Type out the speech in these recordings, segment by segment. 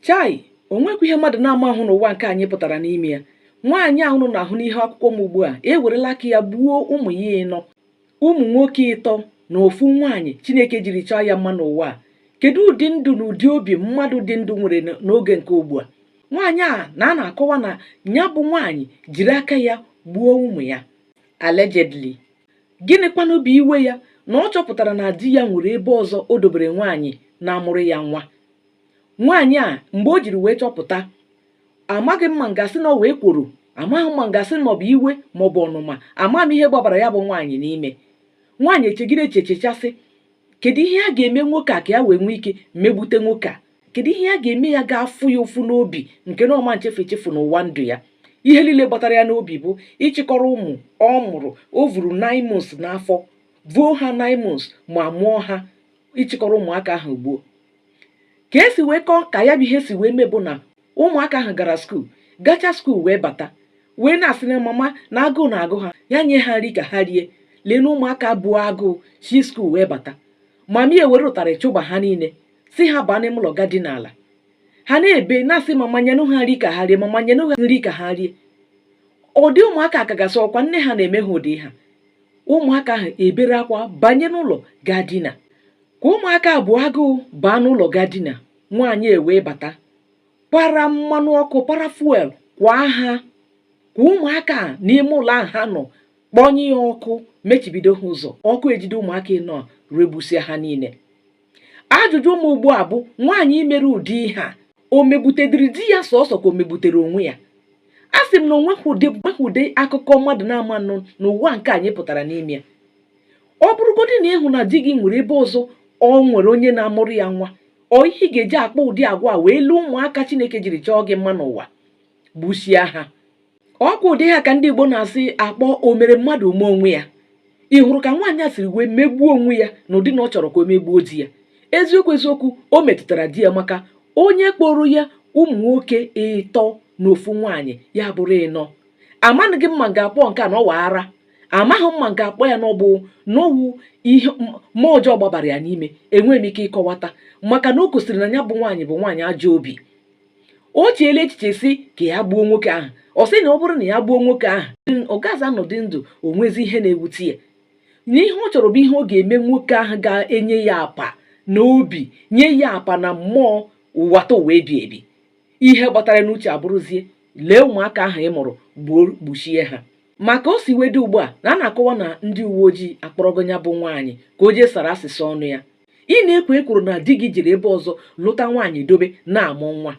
Chai! O nwekwa ihe mmadụ na-ama ahụ n'ụwa nke anyị pụtara n'ime ya. Nwaanyị a unu na-ahụ n'ihu akwụkwọ m ugbu a ewerela aka ya gbuo ụmụ ya ịnọ, ụmụ nwoke ịtọ na ofu nwaanyị Chineke jiri chọọ ya mma n'ụwa a. Kedu ụdị ndụ na ụdị obi mmadụ dị ndụ nwere n'oge nke ugbu a? Nwaanyị a na a na-akọwa na ya bụ nwaanyị jiri aka ya gbuo ụmụ ya allegedly. Gịnịkwanụ bụ iwe ya na ọ chọpụtara na di ya nwere ebe ọzọ o dobere nwaanyị na-amụrụ ya nwa? nwaanyị a mgbe o jiri wee chọpụta amaghị m ma m ga-asị na ọ wụ ekworo amaghị m ma m ga-asị na ọ bụ iwe ma ọ bụ ọnụma ama m ihe gbabara ya bụ nwaanyị n'ime nwaanyị echegide echiche sị kedu ihe a ga-eme nwoke a ka ya wee nwee ike megbute nwoke a kedu ihe a ga-eme ya ga-afụ ya ụfụ n'obi nke na ọ ma nchefu echefu n'ụwa ndụ ya ihe niile gbatara ya n'obi bụ ịchịkọrọ ụmụ ọ mụrụ o vuru nine months n'afọ vuo ha nine months ma mụọ ha ịchịkọrọ ụmụaka ahụ gbuo ka e si wee kọọ ka ya bụ ihe si wee mee bụ na ụmụaka ahụ gara school gacha school wee bata wee na-asị na mama na agụụ na-agụ ha ya nye ha nri ka ha rie lee na ụmụaka buo agụụ si school wee bata mama ya ewere ụtarị chụba ha niile sị ha baa n'ime ụlọ ga dina ala ha na-ebe na-asị mama nyenụ ha nri ka ha rie mama nyenụ ha nri ka ha rie ụdị ụmụaka ka ga-asị ọkwa nne ha na-eme ha ụdị ihe a ụmụaka ahụ ebere akwa banye n'ụlọ gaa dina Ka ụmụaka a bu agụụ baa n'ụlọ ga dina, nwaanyị ewee bata para mmanụ ọkụ para fuel kwaa ha kwaa ụmụaka a n'ime ụlọ ahụ ha nọ kpọnye ya ọkụ mechibido ha ụzọ ọkụ ejide ụmụaka ịnọ a regbusịa ha niile ajụjụ mụ ugbu a bụ nwaanyị mere ụdị ihe a o megbutedịrị di ya sọsọ ka o megbutere onwe ya asị m na o nweghị ụdị akụkọ mmadụ na-ama anụ n'ụwa nke anyị pụtara n'ime ya ọ bụrụgodị na ị hụ na di gị nwere ebe ọzọ ọ nwere onye na-amụrụ ya nwa ọ ihe ị ga-eji akpa ụdị agwa wee lee ụmụaka chineke jiri chọọ gị mma n'ụwa gbusie ha ọkwa ụdị ihe a ka ndị igbo na-asị akpọ o mere mmadụ o mee onwe ya ị hụrụ ka nwaanyị a siri wee megbuo onwe ya n'ụdị na ọ chọrọ ka o megbuo di ya eziokwu eziokwu o metụtara di ya maka onye kpọrọ ya ụmụ nwoke ịtọ na ofu nwaanyị ya bụrụ ịnọ amaghị m ma m ga-akpọ nke a na ọ wụ ara amaghị m ma m ga-akpọ ya na ọ bụ na ọ wụ ihe mmụọ ọjọọ gbabara ya n'ime enweghị m ike ịkọwata maka na o gosiri na ya bụ nwaanyị bụ nwaanyị ajọ obi o cheela echiche sị ka ya gbuo nwoke ahụ ọ sị na ọ bụrụ na ya gbuo nwoke ahụ ọ gaghịzi anọdụ ndụ o nwezi ihe na-ewute ya na ihe ọ chọrọ bụ ihe ọ ga-eme nwoke ahụ ga-enye ya apa n'obi nye ya apa na mmụọ ụwatụwa ebi ebi ihe gbatara n'uche abụrụzie lee ụmụaka ahụ ị mụrụ gbuo gbuchie ha maka o si wee dị ugbu a na a na-akọwa na ndị uwe ojii akpọrọgo ya bụ nwaanyị ka o jee sara asịsa ọnụ ya ị na-ekwo ekworo na di gị jiri ebe ọzọ lụta nwaanyị dobe na-amụ nwa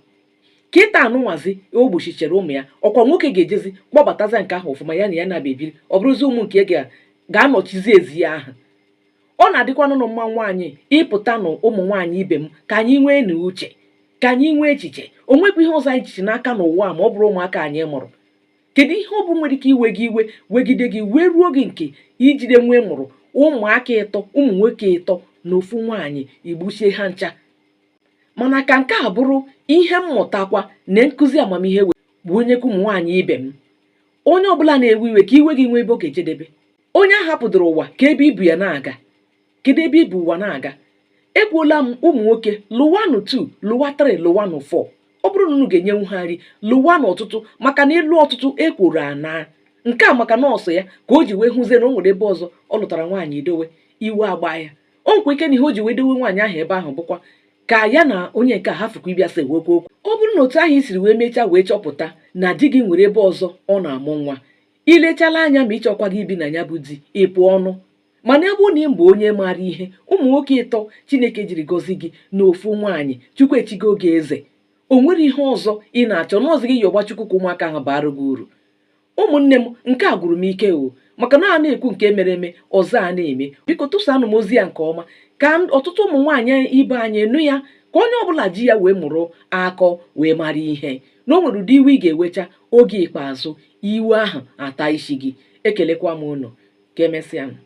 kịtaa nụnwazi o gbuchichara ụmụ ya ọkwa nwoke ga-ejezi kpọbataza nke ahụ ọfụma ya na ya na-abịa ebiri ọ bụrụzi ụmụ nke ga- ga-anọchizi ezi ya ahụ ọ na-adịkwanụ nụ mma nwaanyị ịpụta nụ ụmụ nwaanyị ibe m ka anyị nweenụ uche ka anyị nwee echiche o nwekwa ihe ọzọ anyị jichi n'aka n'ụwa ma ọ bụrọ ụmụaka anyị mụrụ kedu ihe ọ bụ nwere ike iwe gị iwe wegide gị wee ruo gị nke ijide nwa ị mụrụ ụmụaka ịtọ ụmụ nwoke ịtọ na ofu nwaanyị i gbuchie ha ncha mana ka nke a bụrụ ihe mmụtakwa na nkụzi amamihe wee bunyekwa ụmụ nwaanyị ibe m onye ọbụla na-ewe iwe ka iwe gị nwee ebe ọ ga-ejedebe onye a hapụdoro ụwa ka ebe i bu ya na-aga kedu ebe i bu ụwa na-aga ekwuola m ụmụ nwoke lụwanụ 2 lụwa 3 lụwanụ 4 ọ bụrụ na unu ga-enyenwu ha nri lụwanụ ọtụtụ maka na ịlụ ọtụtụ ekworo ana nke a maka na ọ sọ ya ka o ji wee hụzie na o nwere ebe ọzọ ọ lụtara nwaanyị dowe iwe agba ya o nwekwa ike na ihe o ji wee dowe nwaanyị ahụ ebe ahụ bụkwa ka ya na onye nke a hafụkwa ịbịa sewekwa okwu ọ bụrụ na otu ahụ i siri wee mechaa wee chọpụta na di gị nwere ebe ọzọ ọ na-amụ nwa i lechala anya ma ị chọkwaghị ibi na ya bụ di ị pụọ nụ mana ebe na ị bụ onye maara ihe ụmụ nwoke ịtọ chineke jiri gọzie gị na ofu nwaanyị chukwu echigo gị eze o nwere ihe ọzọ ị na-achọ n'ọzọ gị yọba chukwu ka ụmụaka ahụ baara gị uru ụmụnne m nke a gwụrụ m ike o maka na a na-ekwu nke mere eme ọzọ a na-eme biko tụsanụ m ozi a nke ọma ka ọtụtụ ụmụ nwaanyị ibe anyị nụ ya ka onye ọbụla ji ya wee mụrụ akọ wee mara ihe na o nwere ụdị iwe ị ga-ewecha oge ikpeazụ iwe ahụ ata isi gị ekelekwa m unu ka emesịa